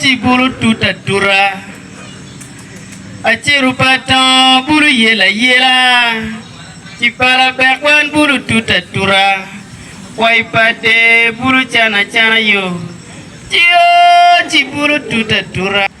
Ci bulu tut atuta, aciro pa atongo bulu yel ayela, ci pala bek wan bulu tut atuta, kwai pa dee bulu can acana yo. Ci bulu tut atuta.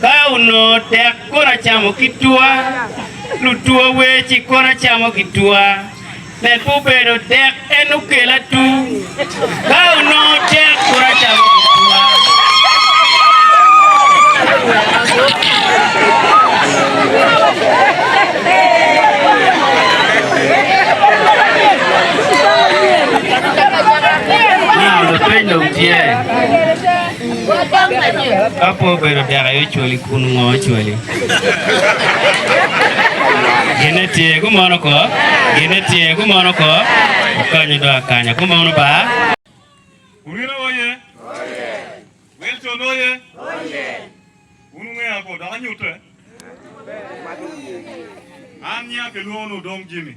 Ka onongo tek kono acamo ki twa, lutwa weci kono acamo ki twa, med pe obedo dek en okela tung. Ka onongo tek kono acamo ki twa. Now lapeny dong tye. Ka pe obedo dek aye ocwali kun ngo ocwali? Gine tye gumono ko, gine tye gumono ko, okanyo do akanya gumono ba. Burina oye! Wilton oye! Wun wungeya ago dok anyute. An nyinga kilwongo ni Odong Jimmy.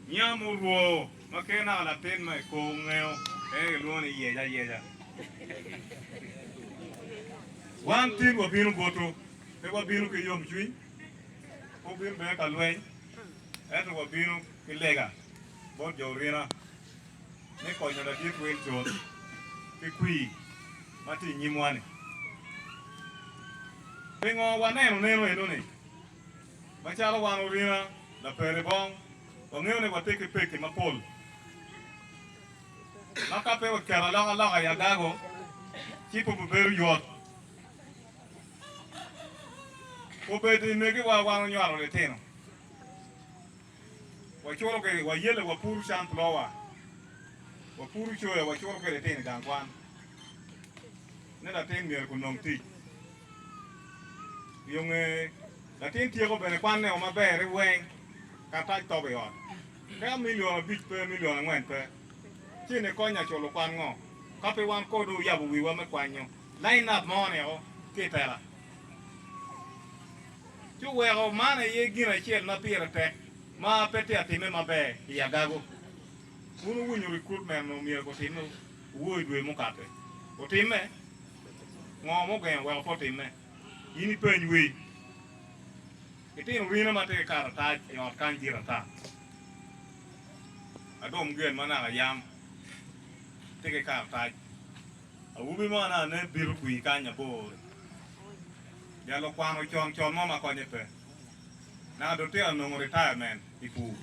Nyinga murwoo. Ma kee naka latin ma i kor ngeo en aye kilwongo ni yec ayeca. Wan tin wabino butu, pe wabino ki yomcwiny, pe wabino bene ka lweny, ento wabino ki lega bot jo orina me konyo Ladit Wilson ki kwir ma tye i nyimwa-ni. Pingo waneno neno eno-ni? Macalo wan orina laperi bong, wangeyo ni watye ki pekki mapol ma ka pe waketo alokaloka i agago ci pe obibedo yot. Obed i megiwa wan onywalo litino, wacuto kwede wayelle, wapuro canpulowa, wapuro coya, wacuto kwede litino i gang kwan ni latin myero onong tic. I onge, latin tyeko bene kwanne o maber i weng karatac tobo i ot. Teka milion abic pe, milion angwen pe, ci ni kony nya culo kwan ngo? Ka pe wan ko do oyabo wiwa me kwanyo line up mo ni o ki itela. Ci oweko man aye gin acel ma pire tek ma pe tye atime maber i agago. Wun wuwinyo recruitment omyero gutime owor i dwe mukate. Otime? Ngo mugengo weko pe otimme? In ipeny wi itino rine ma tye ki karatac i ot kany dit ata. Adom gen ma naka yam tye ki karatac. Awobi mo anaka ne bito kwir kany abor-ri. Jalo kwano con con mo ma konye pe. Naka dong tito anongo retirement i pur.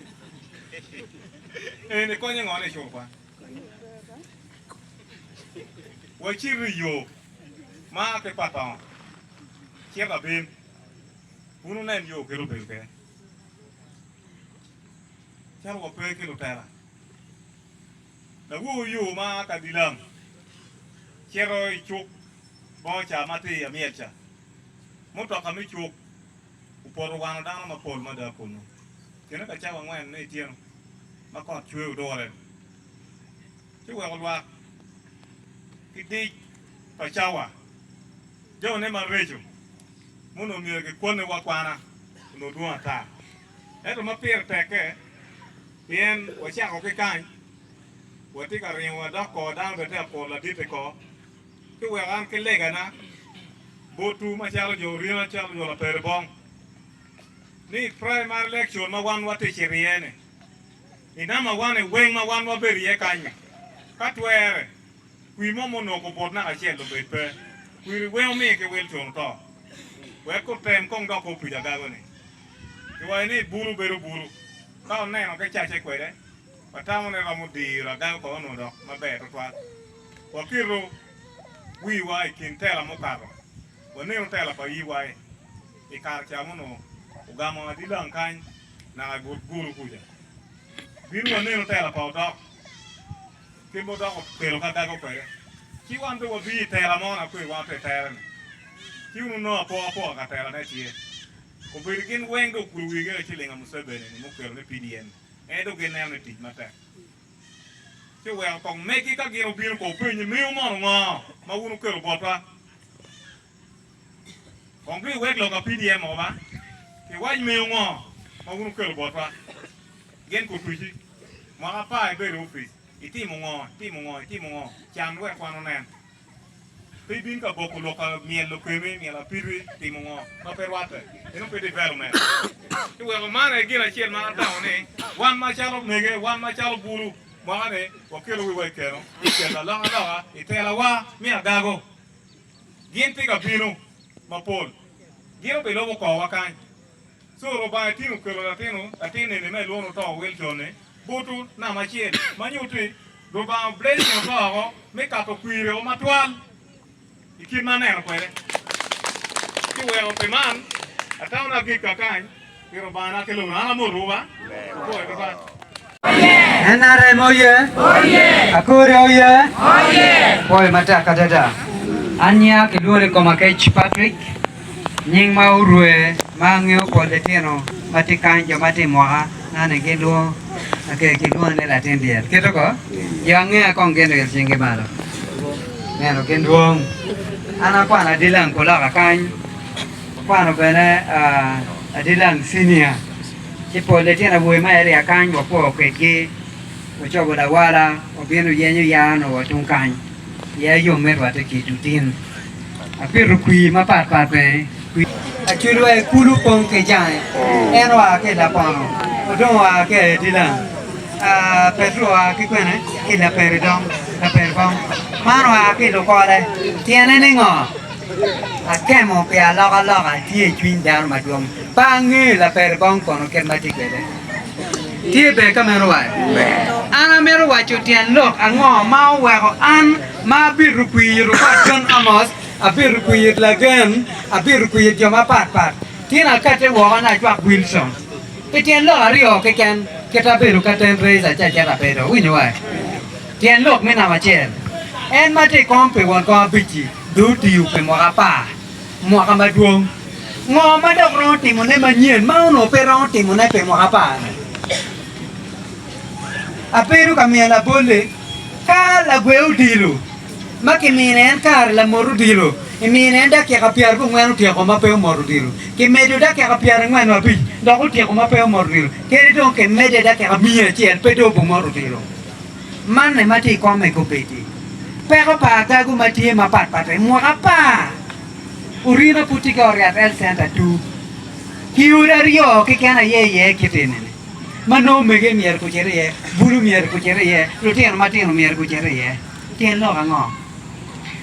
Eni konye ngo ni i cur kwan? Wacit i yo ma a ki Pathon cito abim, wun wunen yo kit obedo kwede, cito wa pe ki lutela. Lawoyo yo ma a ka Dilam cito i cuk bongo ca matir myel ca, mutoka me cuk. opoto wano dano mapol mada kunnu. Kine pa cawa angwen me ityeno ma kot cwer odure ci oweko lwak ki dic pa cawa. Jone mareco ma onongo myero kikwannewa akwana onongo dwong ata. Ento ma pire tekke pien wacako ki kany, watye ka ringo wadok kor dano bene tye ka kuro ladit-ti kor Pi weko an ki legana botwu macalo jo orina calo jo latere bong, ni i praimari lekcon ma wan watic i ryene, i nama wan i weng ma wan wabedo iye kany-nyi, ka twere, kwi mo munongo kubot naka acel obed pe. Kwiri weng omiyo kiwil con oto. Wek kutem kong dok kob tic agago-ni. Kiwaco ni bulu bedo bulu ka oneno ki cacce kwede. Watamone romo diro ada wek wano dok maber tutwal. Waketo wiwa i kin tela mukato, waneno tela pa yiwae i kare ca ma onongo ogamo adilang kany naka i but gulu kuca. Bino waneno tela pa odok kit ma odok okelo ka dago kwede, ci wan dong wabiyo i tela mo na kwir wan wutye i tere-ni, ci wun wunongo apo apoka ka tela ne tye. Obedo gin weng dong okulu wigi eka ci linga Museveni-ni mukelo ni PDM-mi. Ento gineno ni tic matek ci weko kong megi ka gin obino kong openyo ni, Miwu mono ngo ma wun wukelo botwa? Kong dui iwek lok apdm mogo ba ki wac miwu ngo ma wun wukelo botwa. Gen Kutuci, Mwaka apar ibedo i opic, itimo ngo, itimo ngo, itimo ngo, can wek wan wunen. Pe ibin ka boko lok ka myelo kemi, myelo apidwi, timo ngo ma pe rwatte, inongo pe development. Ci weko man aye gin acel ma atamo ni wan macalo omege, wan macalo bulu mwaka ni wakelo wiwa i keno me keto alokaloka i tela wa me adago. Gin tika bino mapol, gin obilobo kor wa kany. Co Lubanga tin okelo latino latin eni ma ilwongo ni oto Wilcon-ni butu namba acel, ma nyutti Lubanga oblessing oto oko me kato kwireo matwal i kit ma aneno kwede. Ci weko pi man atamo ni agik kakany pi Lubanga naka ki lobo-ni. An amotowu ba. Agoyo ki bal. NRM oye! Akori oye! Pwoyo matek adada. Anya kilwongo ni Komakec Patrick, nying ma orue ma angeyo pol litino ma tye kany jo ma tye i mwaka na ni gilwongo ki kilwongo ni latin dyel kito ko jo angeya kong gin oil cingi malo neno gin dwong an akwano adilang pulaka kany akwano bene adilang senior Ci pol litino awobe ma aye rik akany wapo kwedgi ocobo lawala obino oyenyo yaa onongo wa tung kany. Yaa yom mito wa te ki dutin. Apito kwir mapat pat bene. Acudu aye kulu pong ki jange. En oa ki i Lapono, Odong oa ki aye Dilan, Petro oa ki kwene ki Laperidom, Laperibom. Man oa ki i Lukole. Tyene ni ngo? Akemo pi alokaloka tye i cwiny dano madwong. Pe ange laper bong kono kit ma tye kwede. Tye ber ka meno wa? An amito waco tyen lok ango ma oweko an ma abitu kwir it opat John Amos, abitu kwir it Lagen, abitu kwir it jo mapat pat, ci na kate woko na acwak Wilson? Pi tyen lok aryo keken kit abedo ka ten Raiser ci acito abedo, iwinyo wa? Tyen lok me namba acel, En ma tye i kom pi won kom abic-ci dong otiyo pi mwaka apar. Mwaka madwong. Ngo ma dok romo timo ne manyen ma onongo pe romo timo ne pi mwaka apar? Abedo ka miyo labolle ka lagwe odilo ma ki mine en kare lamot odilo, imine en dakika pyera gu ngwen otyeko ma pe omot odilo, ki medo dakika pyera ngwen wa abic dok otyeko ma pe omot odilo, kene dong ki mede dakika miya acel pe dong obu mot odilo. Manne ma tye i kom me kobeddi. Peko pa agagu ma tye mapat pat en mwaka apar ori ma pud tye ki Oriat Health Center tuu ki odi aryo keken aye iye kit enini ma nongo mege myero gucit iye, bulu myero gucit iye, lutino matino myero gucit iye. Tyen lok ango?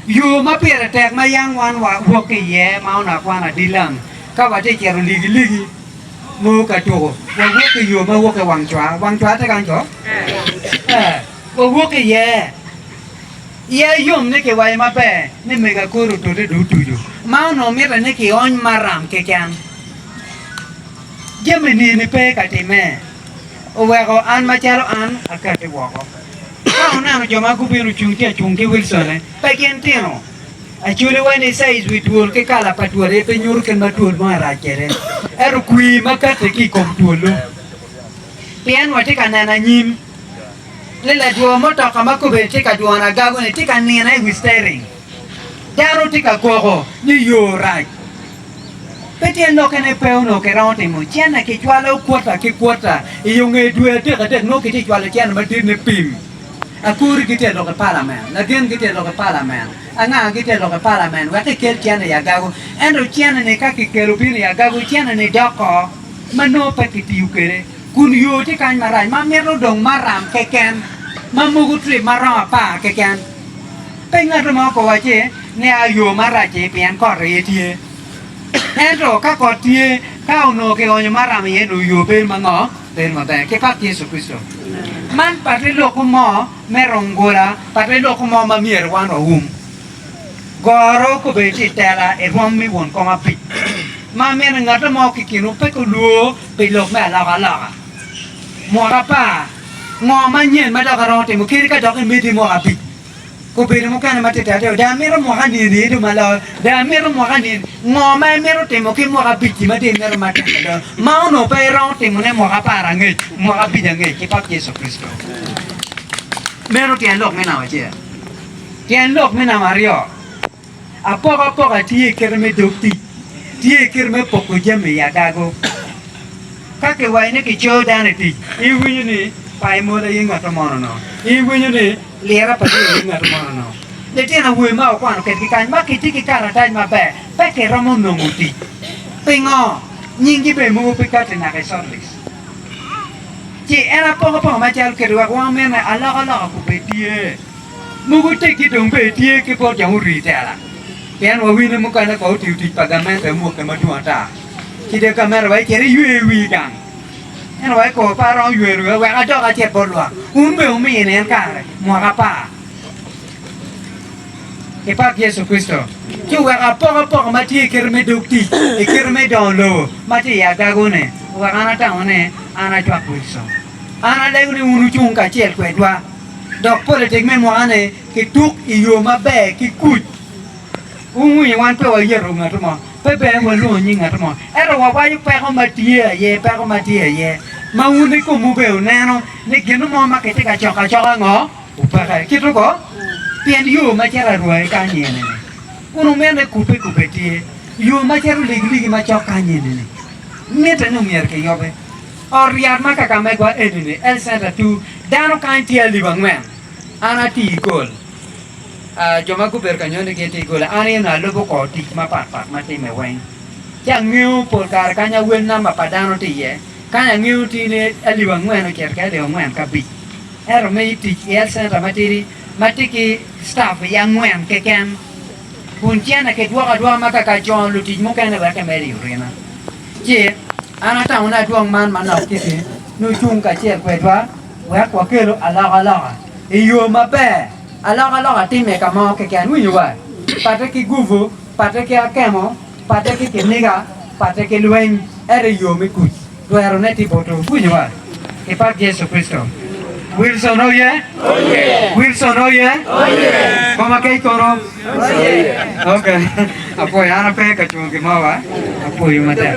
Yo ma pire tek ma yam wan wawok ki iye ma onongo akwana dilang ka watye cito ligiligi. Ngo ka tuko. Wawok i yo ma woke wang cwar. Wang cwar tye kany to? Ee. Wawok iye. Iye yom ni kiwayo maber ni mega kor otote dong otuco, ma onongo mitte ni kiony maram keken. Jami nini pe ka timme. Oweko an macalo an akati woko. Ka wuneno jo ma gubino cung tye acung ki Wilsone, pe gin tino. Acoliwa ni caiz wi twol ki kala pa twol aye pe nyuto kit ma twol mo arac kwede, ento kwir ma katte ki i kom twol-lu. Pien watye ka neno anyim ni ladwor mutoka ma kobedi tye ka dwono agago-ni tye ka nino i wi stering. Dano tye ka koko ni yo rac. Pe tyen lokke ni pe onongo kiromo timo cene, kicwalo kwota ki kwota. I yo nge dwe adek adek nongo kitye cwalo cene madit ni pim. Akori gitye lok i palamen, lagen gitye lok i palamen, anga gitye lok i palamen wek kikel cene i agago. Ento cene-ni ka kikelo bino i agago, cene-ni doko ma nongo pe kitiyo kwede, kun yo tye kany marac ma mito dong maram keken ma moko trip ma romo apar keken. Pe ngat mo ko wacci, Nia yo marac-ci pien kot aye tye. Ento ka kot tye, ka onongo kionyo maram iye-nu, yo bedo mango? Bedo maber ki pat Yecu Kricito. Man pat pe lokwu mo me rong gola, pat pe lokwu mo ma myero wan wawum. Goro kobedo tye i tela i rwom me won kom abic, ma mene ngato mo ki kinwu pe kulwo pi lok me alokaloka. Mot apar, ngo manyen ma dok iromo timo kadi ka dok imedde mwaka abic? Obedo mukene ma tita adada. Dong amito mwaka nini ni dong malor? Dong amito mwaka nini? Ngo ma imito timo ki mwaka abic-ci ma dong imito ma tek adada, ma onongo pe iromo timone mwaka apar angec, mwaka abic angec, ki Pap Yecu Kricito? Meno tyen lok me namba acel. Tyen lok me namba aryo. Apokapoka tye i kite me dog tic, tye i kite me poko jami i agago. Ka kiwaco ni kicoyo dano i tic, iwinyo ni payo mola aye ngatto mono no, iwinyo ni lira pa Yecu aye ngatto mono no. Litino awobe ma wakwano kedgi kany ma kitye ki karatac maber pe kiromo nongo tic. Pingo? Nyinggi bene mogo pe kati naka i shortlist. Ci en apokapoka macalo kiti wek wamine alokaloka kobedie. Mogo teggi dong bene tye ki bot jo murii tela, pien wawinyo mukene kong otiyo tic pa gamente amukke madwong ata, ci dong gamente wa icit iywe wii gang ento wa ikobo par romo ywero wiwa wek adok acit bot lwak, wun bene wumini en kare mwaka apar. Ipak Yecu Kricito, ci wuwek apok apoko ma tye ikito me dog tic, ikito me dongo lobo ma tye i agago-ni, wek an atamo ni an acwak Wilson. An alego ni wun wucung kacel kwedwa. Dok politik me mwaka-ni kituk i yo maber ki kuc. Wungwinyo, wan pe wayeto ngatu mo, pe bene walwongo nying ngatu mo, ento wawaco peko ma tye aye, peko ma tye aye, ma wun i komwu bene wuneno ni gin mo ma kitye ka coko acoka ngo opeke. Kit ogo, pien yo ma cito arwai ka anyene-ni, kun wumito ni kubbe kubbe tye, yo ma cito ligiligi ma cok ka anyene-ni, mitte ni myero kiyobe. Ot ryat ma Kakamegwa enini, Health Centre Two, dano kany tye alip angwen. An atii i gol. Jo ma gubedo ka nyone gin tye i gol. An eno alubo kor tic mapat pat ma timme weng. Ci angeyo pol kare kany awel namba pa dano tye iye. Kany angeyo tye ni alip angwen ocito ki alip angwen ki abic. Ento me tic i Health Centre matidi ma tye ki staff iye angwen keken. Kun cene kidwoko adwoka ma ka kacono lutic mukene wek kimed i orina. Ci an atamo ni adwong man manok kiti ni ocung kacel kwedwa wek wakelu alokaloka i yo maber. Alokaloka timme ka mo keken, winyo wa, patte ki gupu, patte ki akemo, patte ki kiniga, patte ki lweny, ento i yo me kuc. Twerone tye butu. Wuwinyo wa? Kipak Yecu Kricito! Wilson oye! Wilson oye! Koma kec kono. Ok, apwoyo. An ape ka cungo gin mo wa. Apwoyo matek.